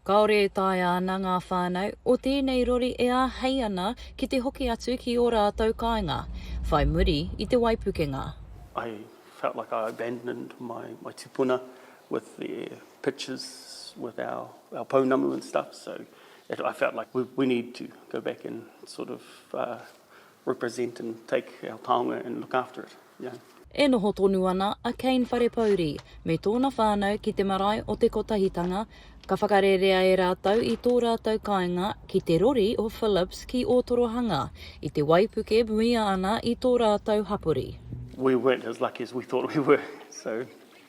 Kāore e taea ana ngā whānau o tēnei rori e āhei ana ki te hoki atu ki ō rātou kāinga, whai muri i te waipukenga. I felt like I abandoned my my tipuna with their pictures with our our pounamu and stuff so it I felt like we we need to go back and sort of represent and take our taonga and look after it. Ia. E noho tonu ana a Kane Wharepouri me tōna whānau ki te marae o Te Kotahitanga, ka whakarerea e rātou i tō rātou kāinga ki te rori o Phillips ki Ōtorohanga, i te waipuke muia ana i tō rātou hapori. We weren't as lucky as we thought we were, so.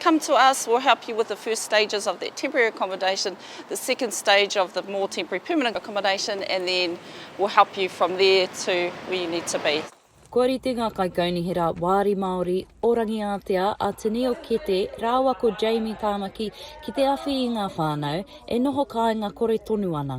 Come to us, we'll help you with the first stages of that temporary accommodation, the second stage of the more temporary permanent accommodation and then we'll help you from there to where you need to be. Kua rite ngā kaikaunihera Wāri Māori o Rangiātea a Tenille Kete rāua ko Jamie Tāmaki ki te awhi i ngā whānau e noho kāinga kore tonu ana.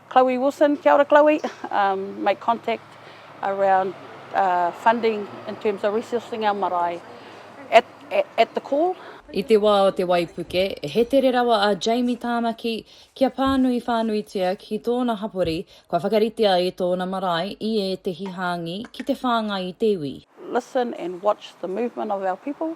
Chloe Wilson, Kia ora Chloe, um, make contact around uh, funding in terms of resourcing our marae at, at, at the call. I te wā o te waipuke, he tere rawa a Jamie Tāmaki kia pānui whānuitia ki tōna hapori kua whakaritea e tōna marae i ētehi hāngi ki te whāngai i te iwi. Listen and watch the movement of our people.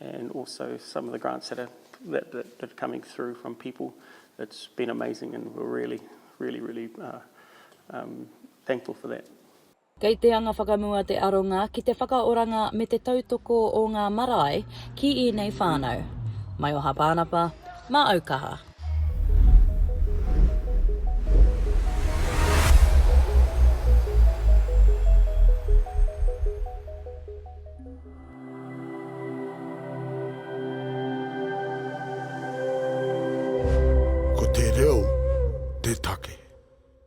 and also some of the grants that are that, that, that are coming through from people. It's been amazing, and we're really, really, really uh, um, thankful for that. Kei te anga whakamua te aronga ki te whakaoranga me te tautoko o ngā marae ki ēnei whānau. Mai o Hapānapa, mā Aukaha. Ko te reo te take.